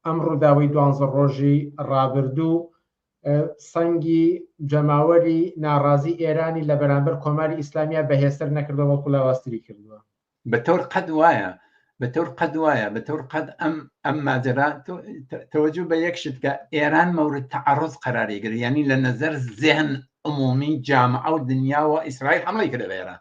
ئەم ڕووداوەی دوانزە ڕۆژی ڕابردوو سەنگی جەماوەری ناڕازی ئێرانی لە بەرامبەر کۆماری ئیسلامیا بەهێزتر نەکردەوە بەڵکو لاوازتری کردووە. بەتەور قەد وایە بەتەور قەد وایە بەتەور قەد ئەم ئەم ماجرا تەوەجو بە یەک شت کە ئێران مەورد تەعەڕز قەراری گرت یعنی لە نەزەر زێهن عمومی جامعە و دنیاوە ئیسرائیل حەمڵی کردە بە ئێران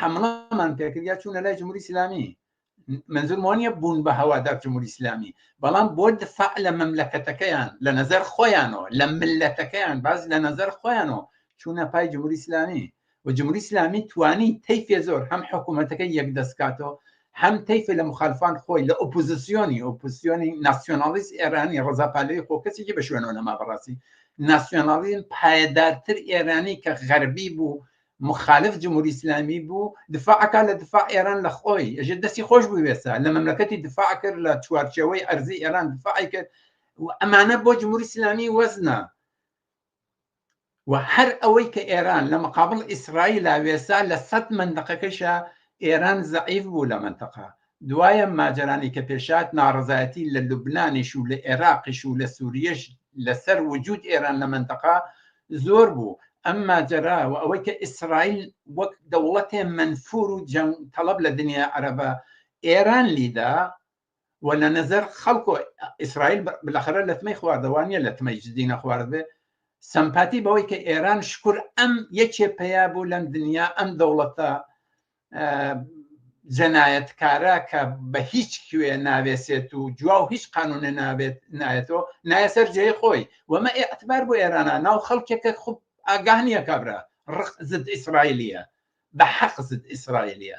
حەمڵەمان پێکرد یا چوونە لای جمهوری ئیسلامی منزور مۆنیە بوون بە هەوادار جمهوری ئیسلامی بەڵام بۆ دفاع لە مەملەکەتەکەیان لە نظر خۆیانەوە لە ملەتەکەیان باز لە نظر خۆیانەوە چوونە پای جمهوری ئیسلامی و جمهوری ئیسلامی توانی تەیفێ زۆر هەم حکوومەتەکە یەک دەستکاتەوە هەم تەیفێ لە مخالفان خۆی لە ئۆپوزیسیۆنی ئۆپوسیۆنی ناسیۆنالیست ئێرانی ڕزاپالەوەی خۆ کەسێکی بە شوێنەوە نەما بەڕاستی ناسیۆنالیزم پایەدارتر ئێرانی کە غەربی بوو مخالف جمهوری ئیسلامی بوو دفاعەکە لە دفاع ئێران لە خۆی ئەژێ دەستی خۆش بوێسە لە مەملەکەتی دفاع کرد لە چوارچەوەی ئەرزی ئێران دفاعی کرد و ئەمانە بۆ جمهوری ئیسلامی وەزنە و هەر ئەوەی کە ئێران لە مقابل ئیسرائیل لاوێسا لە سەد منندقەکەشە ئێران زعیف بوو لە منتەقا دوای ئەم ماجەرانەی کە پێشهات، ناڕەزایەتی لە لوبنانیش و لە ئێراقیش و لە سووریەش لەسەر وجوود ئێران لە مەنتەقە زۆر بوو. ئەم ماجەرا و ئەوەی کە ئیسرائیل وەک دەوڵەتێ مەنفوور و جەنگ تەڵەب لە دنیای عەرەبە ئێران لیدا و لە نەزەر خەڵک و ئیسرائیل بلەخەرە لەتمەی خواردە وا نیە لەتمەی جدی نەخواردبێ سەمپاتی بەوەی کە ئێران شکور ئەم یەکێ پەیا بوو لەم دنیا ئەم دەوڵەتە جەنایەتکارە کە بە هیچ کوێ ناوێسێت و جوا و هیچ قانونە نابێت نایەتەوە نایەسەر جێ خۆی وەمە ئەتبار بۆ ئێرانە ناو خەڵکێکە خوب ئاگانیە کابرا ڕق زد ئیسرائیلیە بە حەق زد ئیسرائیلیە